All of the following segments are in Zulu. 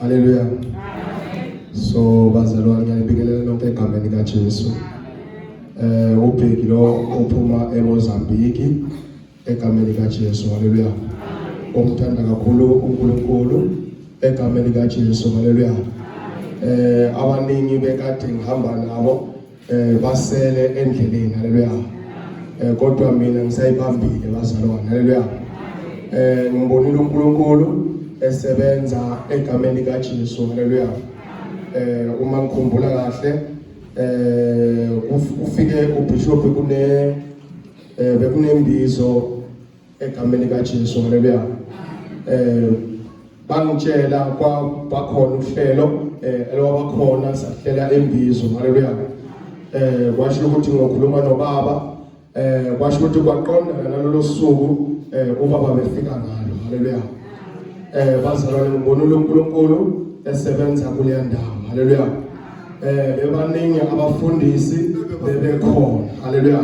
Haleluya. Amen. So bazalwane ngiyalibingelela nonke egameni kaJesu. Eh ubheki lo uphuma eMozambique egameni kaJesu. Haleluya. Omthanda kakhulu uNkulunkulu egameni kaJesu. Haleluya. Eh abaningi bekade ngihamba nabo eh basele endleleni haleluya eh kodwa mina ngisayibambile bazalwane haleluya eh ngibonile uNkulunkulu esebenza egameni likaJesu haleluya eh uma ngikhumbula kahle eh ufike ubishop kune eh bekunembizo egameni kaJesu haleluya eh bangitshela kwakhona uhlelo eh elwabakhona sahlela embizo haleluya eh kwasho ukuthi ngokhuluma nobaba eh kwasho ukuthi kwaqondana nalolu suku eh ubaba befika ngalo haleluya eh bazalwane ngibona uNkulunkulu esebenza kule ndawo haleluya eh bebaningi abafundisi bebekhona haleluya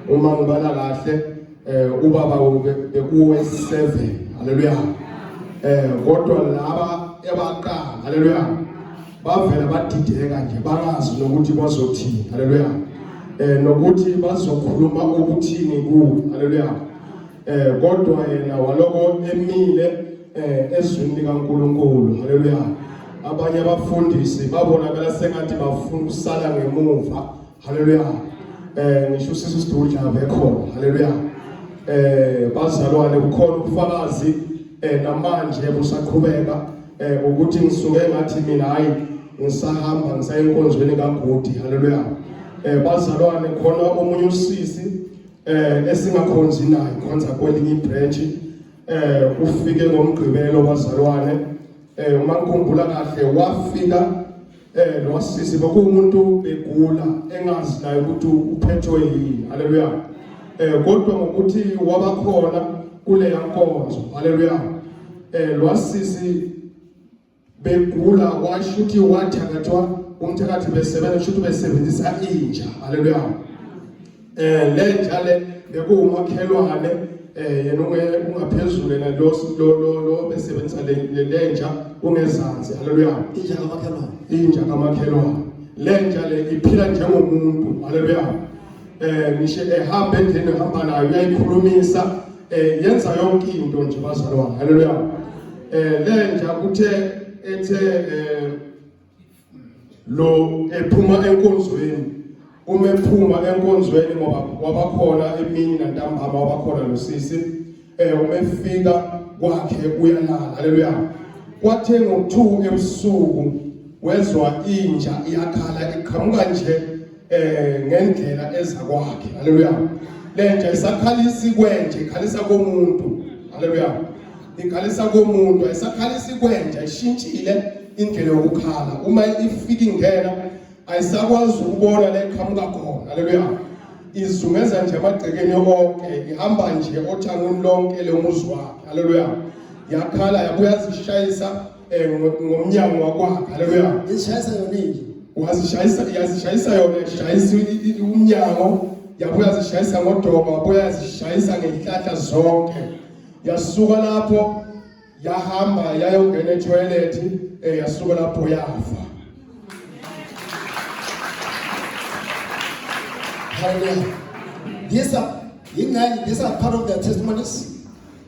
uma ngibala kahle eh ubaba bekuwe 7 haleluya eh kodwa laba ebaqala haleluya bavela badideka nje bakazi nokuthi bazothini haleluya eh nokuthi bazokhuluma ukuthini ku haleluya eh kodwa yena waloko emile eh ezwini likaNkuluNkulu haleluya abanye abafundisi babonakala sengathi bafuna usala ngemuva haleluya eh ngisho usisi sidudla bekhona haleluya eh bazalwane kukhona ubufakazi eh namanje busaqhubeka eh ukuthi ngisuke ngathi mina hayi ngisahamba ngisayinkonzweni kaGudi haleluya eh bazalwane khona omunye usisi eh esingakhonzi naye khonza kwelinye ibranch eh ufike ngomgqibelo bazalwane eh uma ngikhumbula kahle wafika Eh lo sisi bekuwumuntu begula engazi naye ukuthi uphethwe yini. Haleluya. Eh kodwa ngokuthi wabakhona kule yankonzo. Haleluya. Eh lo sisi begula washuthi wathakathwa umthakathi besebenza shuthi besebenzisa inja. Haleluya. eh le njale bekuwumakhelwane eh yena ungaphezulu yena lo lo lo besebenza le le nja ungezansi haleluya inja kamakhelwane inja kamakhelwane le nja le iphila njengomuntu haleluya eh ngisho ehamba endlini ehamba nayo uyayikhulumisa eh yenza yonke into nje bazalwane haleluya eh le nja kuthe ethe eh lo ephuma enkonzweni uma ephuma enkonzweni ngoba wabakhona emini nantambama wabakhona losisi eh uma efika kwakhe uyalala haleluya kwathe ngo2 ebusuku wezwa inja iyakhala iqhamuka nje eh ngendlela eza kwakhe haleluya lenja isakhalisa ikwenje ikhalisa komuntu haleluya ikhalisa komuntu ayisakhalisa ikwenja ishintshile indlela yokukhala uma ifika ingena ayisakwazi ukubona la iqhamuka khona haleluya izungeza nje amagcekeni onke ihamba nje othangweni lonke lomuzi wakhe haleluya yakhala yabuya zishayisa eh, ngo- ngomnyango wakwakhe haleluya izishayisa yona inje wazishayisa yazishayisa yona ishayisa i- i- umnyango yabuya yazishayisa ngodoba wabuya yazishayisa ngey'hlahla zonke yasuka lapho yahamba yayongena ethoyilethi um yasuka lapho yafa haleluya these are yingxenye these are part of their testimonies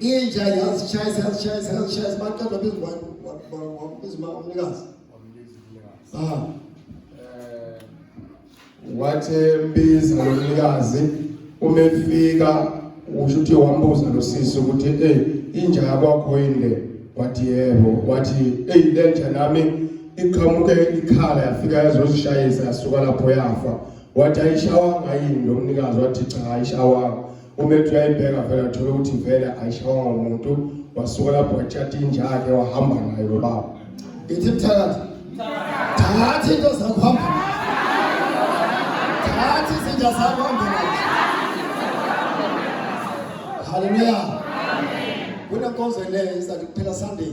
inja yazishayisa yazishayisa yazishayisa baqeda bezingwane wabizima umnikazi ah eh, wathi mbiza lo mnikazi uma efika usho ukuthi wambuza lo sisi ukuthi ey inja yakwakho yini le wathi yebo wathi ey le nja nami iqhamuke ikhala yafika yazozishayisa yasuka lapho yafa wathi ayishawanga yini lo mnikazi wathi cha ayishawanga uma ethi uyayibheka vele athole ukuthi vele ayishaywa umuntu wasuka lapho watshata inja yakhe wahamba nayo lo baba ithi mthakathi thatha into zakho hamba thatha izinja zakho hamba nazo haleluya kunenkonzo le izathi kuphela sunday